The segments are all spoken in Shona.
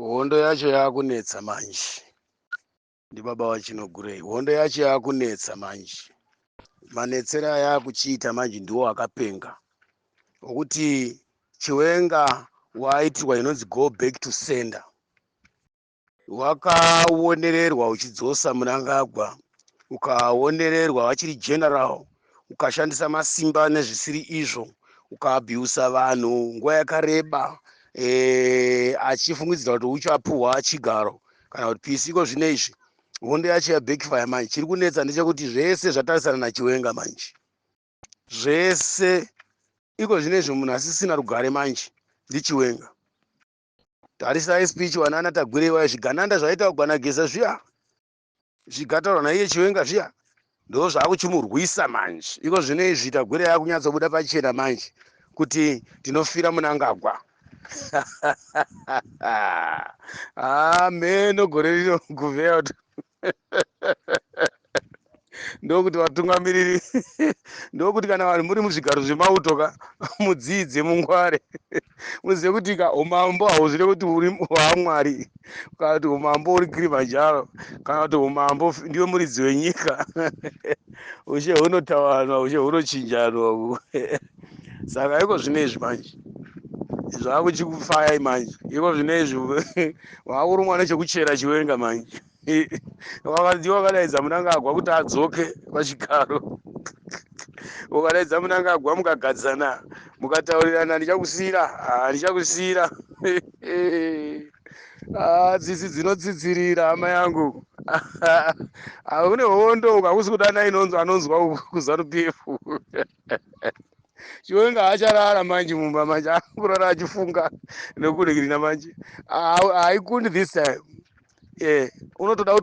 hondo yacho yakunetsa manje ndibaba vachinogurei hondo yacho yakunetsa manje manetsere ayakuchiita manje ndiwo akapenga okuti chiwenga waaitirwa inonzi go back to sender wakaonererwa uchidzosa munangagwa ukaonererwa vachiri general ukashandisa masimba nezvisiri izvo ukaabhiusa vanhu nguva yakareba e, achifungidzira kuti uchapuhwa chigaro kana kuti pisi iko zvino izvi hondo yacho yabackfire manje chiri kunetsa ndechekuti zvese zvatarisana nachiwenga manje zvese iko zvino izvi munhu asisina rugare manje ndichiwenga tarisai speech wanana tagwirei waya zvigananda zvaita kugana geza zviya zvigataurwa naiye chiwenga zviya ndo zvakuchimurwisa manje iko zvino izvi tagwirei akunyatsobuda pachena manje kuti tinofira munangagwa hameno ah, gore rino guveya ndokuti vatungamiriri ndokuti kana vanhu muri muzvigaro zvemauto ka mudziidze mungware muzive kuti ka umambo hauzvire kuti uri hwamwari kana kuti umambo uri kirimanjaro kana kuti umambo ndiwe muridzi wenyika ushe hunotawanwa ushe hunochinjanwa saka iko zvino izvi manje zvakuchikufayai manje iko zvino izvi wakurumwa nechekuchera chiwenga manje wakadiwa wakadaidza munangagwa kuti adzoke pachigaro ukadaidza munangagwa mukagadzana mukataurirana ndichakusira ah, ndichakusira ah, tsitsi dzinotsitsirira hama yangu ah, une hondo ukakusi kudana inonzwa anonzwa kuzanu pf chiwenga haacharara manje mumba manje akurara achifunga nekuregirina manje haikundi this time e unotoda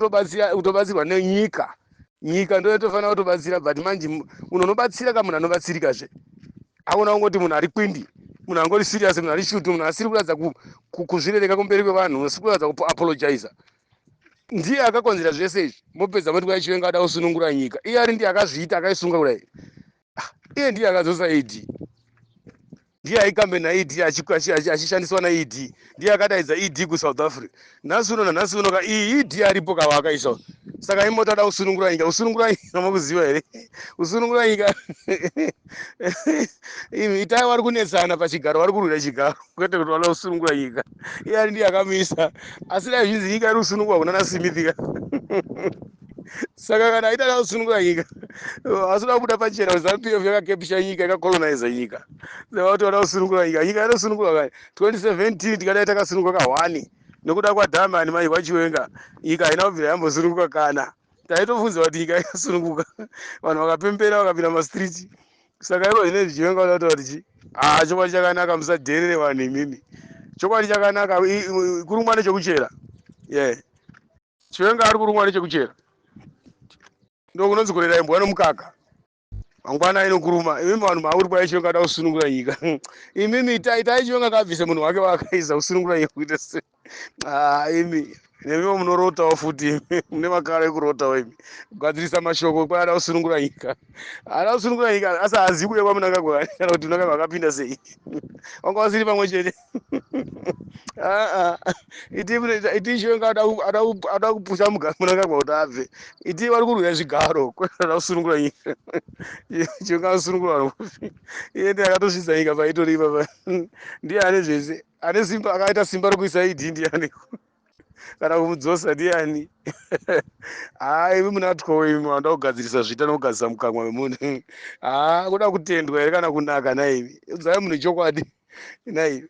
kutobatsirwa nenyika nyika ndo yatofanira kutobatsira but manje munhu unobatsira ka munhu anobatsirika zve aona kungoti munhu ari kwindi munhu angori serious munhu ari shuti munhu asiri kuratidza kuzvirereka kumberi kwevanhu asiri kuratidza kuapologiza ndiye akakonzera zvese izvi mopedza moti kwai chiwenga ada kusunungura nyika iye ari ndiye akazviita akaisunga kudai Ah, iye ndiye akadzosa ed ndiye aikambe naed achiku- achi- achi- achishandiswa naed ndiye akadaidza ed kusouth africa nhasi uno nanhasi uno ka iyi ed aripo kava akaisa uno. saka imoti ada kusunungura nyika kusunungura nyika makuziva here kusunungura nyika itai vari kunetsana pachigaro vari kurwira chigaro kwete kuti vanoda kusunungura nyika iye ari ndiye akamisa asi dai zvinzi nyika iri kusunungura kuna nasimithika saka kana aita nakusunungura nyika asina kubuda pachena kuti zanu pf yakakepisha nyika yakacoloniza nyika saka kuti vada kusunungura nyika nyika inosunungura kani 2017 tikadai takasunungura kahwani nokuda kwadhamani mai kwachiwenga nyika haina kubvira yambosununguka kana taitobvunza kuti nyika yakasununguka vanhu vakapembera vakapinda mumastreet saka iko zvinei zvichivenga vana kutaura kuti chii haa chokwadi chakanaka musadherere vanhu imimi chokwadi chakanaka i- i- kurumwa nechekuchera ye chivenga ari kurumwa nechekuchera ndokunonzi kurera imbwa nomukaka mangwana inokuruma imimi vanhu mauri kwai chionga ada kusunungura nyika imimi itai tai chionga kabvise munhu wake waakaiza kusunungura nyika kuita se ah, imi nemiwo munorotawo futi imi mune makara ekurotawo imi kugadzirisa mashoko kwai ada kusunungura nyika ada kusunungura nyika asi haazivi kuya kwamunangagwa kana kuti munangagwa akapinda sei wanga wasiri pamwe chete aa iti mune- iti shonga ada ku- ada ku- ada kupusha muga- munangagwa kuti abve iti vari kurwira zvigaro kwada kusunungura nyika shonga asunungura vanhu kufi iye ndiye akatosvitsa nyika paitori ipapa ndiye ane zvese ane simba akaita simba rokuisa id ndiyani kana kumudzosa ndiyani haa imi munatwo imi anoda kugadzirisa zvita nokugadzirisa mukanwa wemunhu haa kuda kutendwa here kana kunaka naimi udzai munhu chokwadi nai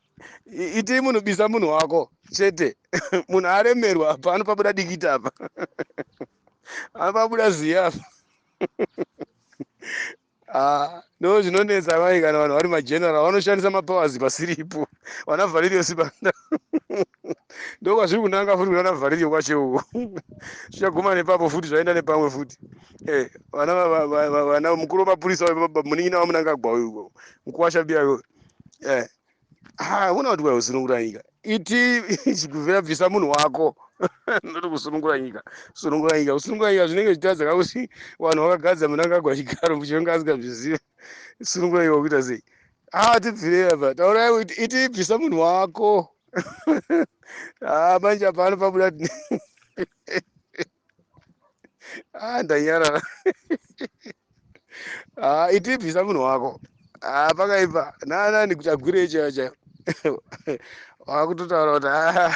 itii munhu bisa munhu wako chete munhu aremerwa apa anopabuda dikita apa anopabuda ziya apa ah, no zvinonetsa mai kana vanhu vari mageneral vanoshandisa mapowers pasiripo vana valerio sibanda ndokwazviri kunanga futi kunana vharirio kwacho uko zvichaguma nepapo futi zvaenda nepamwe futi eh, vana mukuru wemapurisa munin'ina wamunangagwa uyu uko mukuwasha biya uyo eh, ah, una kuti kwai usunungura nyika iti chiguvira bvisa munhu wako ndoti kusunungura nyika sunungura nyika kusunungura nyika zvinenge zvichitadza kakuti vanhu vakagadza munangagwa chigaro muchionga asingazvizive sunungura nyika kuita sei Ah, tibvirei apa. Taurai kuti iti ibvisa munhu wako. ah, manje apa anopabuda. ah, ndanyarara. ah, iti ibvisa munhu wako. Ah, pakaipa. Nana ndikuchagwirei chaiyo chaiyo. wakutotaura kuti ah,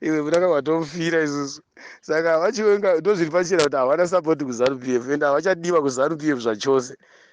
iwe kunaka kwatomufira isusu saka vachiwenga ndozviri pachena kuti havana sapoti kuzanu p f ende havachadiwa kuzanu p f zvachose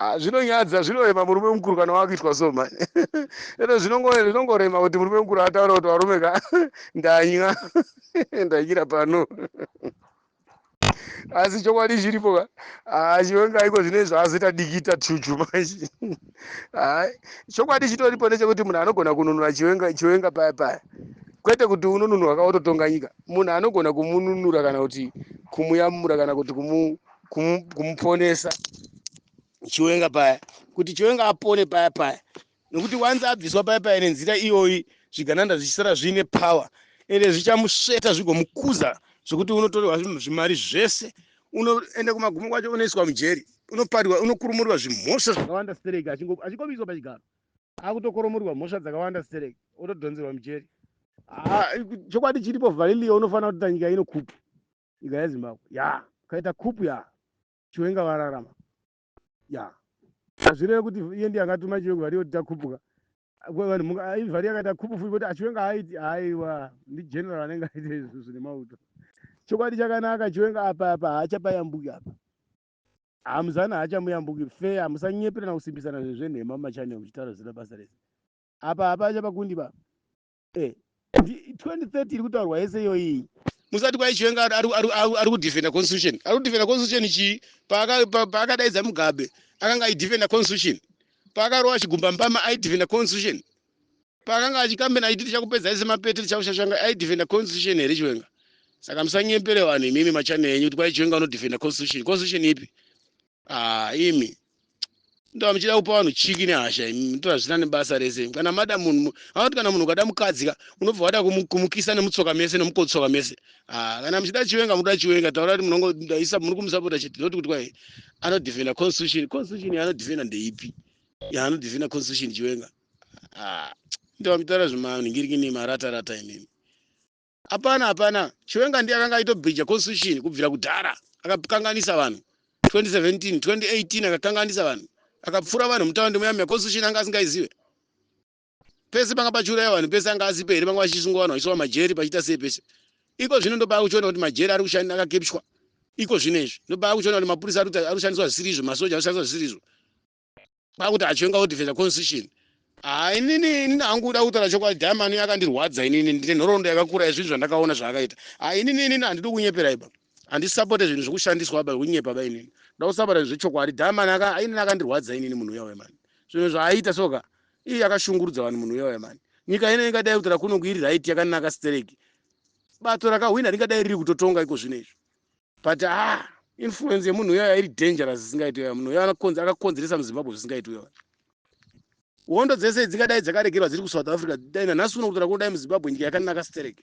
Ah, zvinonyadza zvinorema murume mukuru kana wakuitwa so mani ene zvinongorema kuti murume mukuru ataura kuti varume ka ndanywa ndanyira pano asi chokwadi chiripo ka ah, chiwenga iko zvine zvaazoita dikita chuchu manje ah, chokwadi chitoripo nechekuti munhu anogona kununura chiwenga chiwenga paya paya kwete kuti unonunurwa ka wototonga nyika munhu anogona kumununura kana kuti kumuyamura kana kuti kumu kumu- kumuponesa chiwenga paya kuti chiwenga apone paya paya nokuti wanzi abviswa paya paya nenzira iyoyi zvigananda zvichisara zviine power ende zvichamusveta zvigomukuza zvekuti unotorwa zvim- zvimari zvese unoenda kumagumo kwacho unoiswa mujeri unoparwa unokurumurwa zvimhosva zvakawanda stereki achingo- achingomiswa pachigaro akutokoromorwa mhosva dzakawanda stereki otodhonzerwa mujeri Ah, chokwadi chiripo vhalilio unofanira kuti nyika inokupa nyika yezimbabwe ya kaita kupu ya chiwenga vararama ya hazvireve kuti iye ndiye akatuma chiwenga vhari yoti takupuka vanhu vhari yakaita kupu futi voti achiwenga haaiti aiwa ndigeneral anenge aita izvi zvine mauto chokwadi chakanaka chiwenga apa apa haachapayambuki apa hamuzani haachamuyambuki fe hamusanyepera na kusimbisana zvinhu zvenhema mumachanel muchitaura zira basa rese apa hapachapa kundi baba eh, 2030 iri kutaurwa yese iyoyii musati kwaichiwenga ari kudefenda constitution ari kudefenda constitution chii paakadaidza mugabe akanga aidefenda constitution paakarova chigumba mbama aidefenda constitution paakanga achikambena aiti tichakupedza ese mapete tichakushashanga aidefenda constitution here chiwenga saka musanyepere vanhu imimi machane enyu kuti kwaichiwenga unodefenda constitution constitution ipi ah imi ndava muchida kupa vanhu chiki nehasha imi mutori hazvina nebasa rese imi kana mada munhu anoti kana munhu ukada mukadzi ka unobva wada kumu- kumukisa nemutsoka mese nemukotsoka mese ah kana muchida chiwenga munoda chiwenga taura kuti munongo ndaisa muri kumusapota chete not kuti kwai anodefenda constitution constitution yaanodefenda ndeipi yaanodefenda constitution chiwenga ah ndava muchitaura zvemanhingiriki nemarata rata imimi Hapana hapana Chiwenga ndiye akanga aitobhija constitution kubvira kudhara akakanganisa vanhu 2017 2018 akakanganisa vanhu akapfura vanhu mutaundi muya muya constitution anga asingaizive pese panga pachiuraya vanhu pese anga asipo here vanga vachisungwa vanhu vachiiswa majeri pachiita sei pese iko zvino ndopaa kuchiona kuti majeri ari kushanda akakepshwa iko zvino izvi ndopaa kuchiona kuti mapurisa ari kushandiswa zvisiri izvo masoja anoshandiswa zvisiri izvo kwakuti achivenga odefenda constitution haa inini inini hangu kuda kutaura chokwadi diamond uyo akandirwadza inini ndine nhoroondo yakakura yezvinhu zvandakaona zvaakaita haa inini inini handidi kunyepera iba handisapote zvinhu zvekushandiswa ba kunyepa ba inini nda kusapota zvinhu zvechokwadi diamond aka inini akandirwadza inini munhu uya uya mani zvinhu zvaaita soka iye akashungurudza vanhu munhu uya uya mani nyika ino ingadai kutora kuno kuiri right yakanaka stereki bato rakahwina ringadai riri kutotonga iko zvino izvo but ah influence yemunhu uyoya iri dangerous zvisingaiti uyoya munhu uyoya akakonzeresa muzimbabwe zvisingaiti uyoya hondo dzese dzingadai dzakaregerwa dziri kusouth africa dai nanhasi uno kutora kunodai muzimbabwe nyika yakanaka stereke